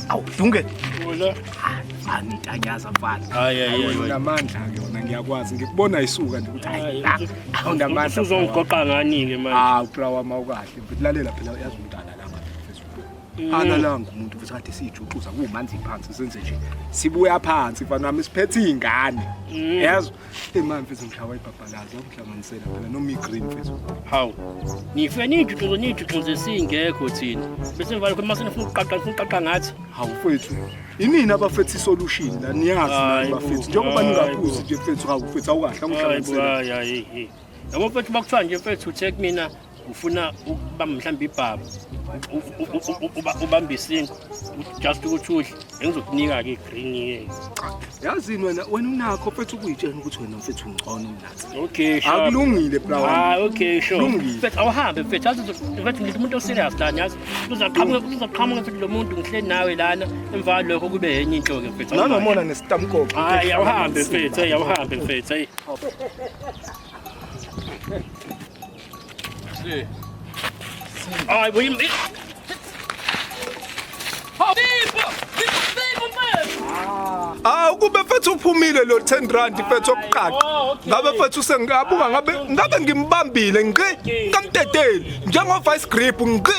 Awu Dunge. Hola. Angitanyaza mfana. Hayi hayi hayi. Unamandla ke wena ngiyakwazi ngikubona isuka nje ukuthi hayi. Awunamandla. Uzongigoqa ngani ke manje? Ah uplawa mawukahle. Ngikulalela phela uyazi umntana lapha. Mm. Analanga umuntu ukuthi kade siyijuxuza kumanzi phansi senze nje. Sibuya phansi mfana wami siphethe izingane. Mm. Yazi Ema mfethu ngishawa ibhabhalazi akuhlanganisela phela noma igreen mfethu. Hawu. Ngife nijuxuzo nijuxuzo esingekho thina. Bese ngivale khona mase nifuna ukuqaqa nifuna ukuqaqa ngathi. Hawu mfethu. Inini abafethi solution la niyazi bafethi njengoba ningakuzi nje mfethu hawu mfethu awukahle akuhlanganisela. Hayi hayi. Yabo mfethu bakuthiwa nje mfethu uthe kumina ufuna ukuba mhlawumbe ibhaba ubambe isingo just ukuthi udle engizokunika-ke igreen-ke yazini wena wena unakho mfethu ukuyitshena ukuthi wena mfethu ungcono mnathi okay sure akulungile bra ah okay sure lungile mfethu awuhambe mfethu azi mfethu ngithi umuntu oserious lana yazi uzaqhamuka uzaqhamuka mfethu lo muntu ngihleli nawe lana emva lokho kube yenye into ke mfethu nanomona nesitamkoko hayi awuhambe mfethu hayi awuhambe mfethu hayi Three. Ay bu yim. Ah ukube mfethu uphumile lo 10 rand mfethu okuqala. Oh, ngabe mfethu sengabuka ah, ngabe ngabe ngimbambile ngqi ngamteteli njengo vice grip ngqi.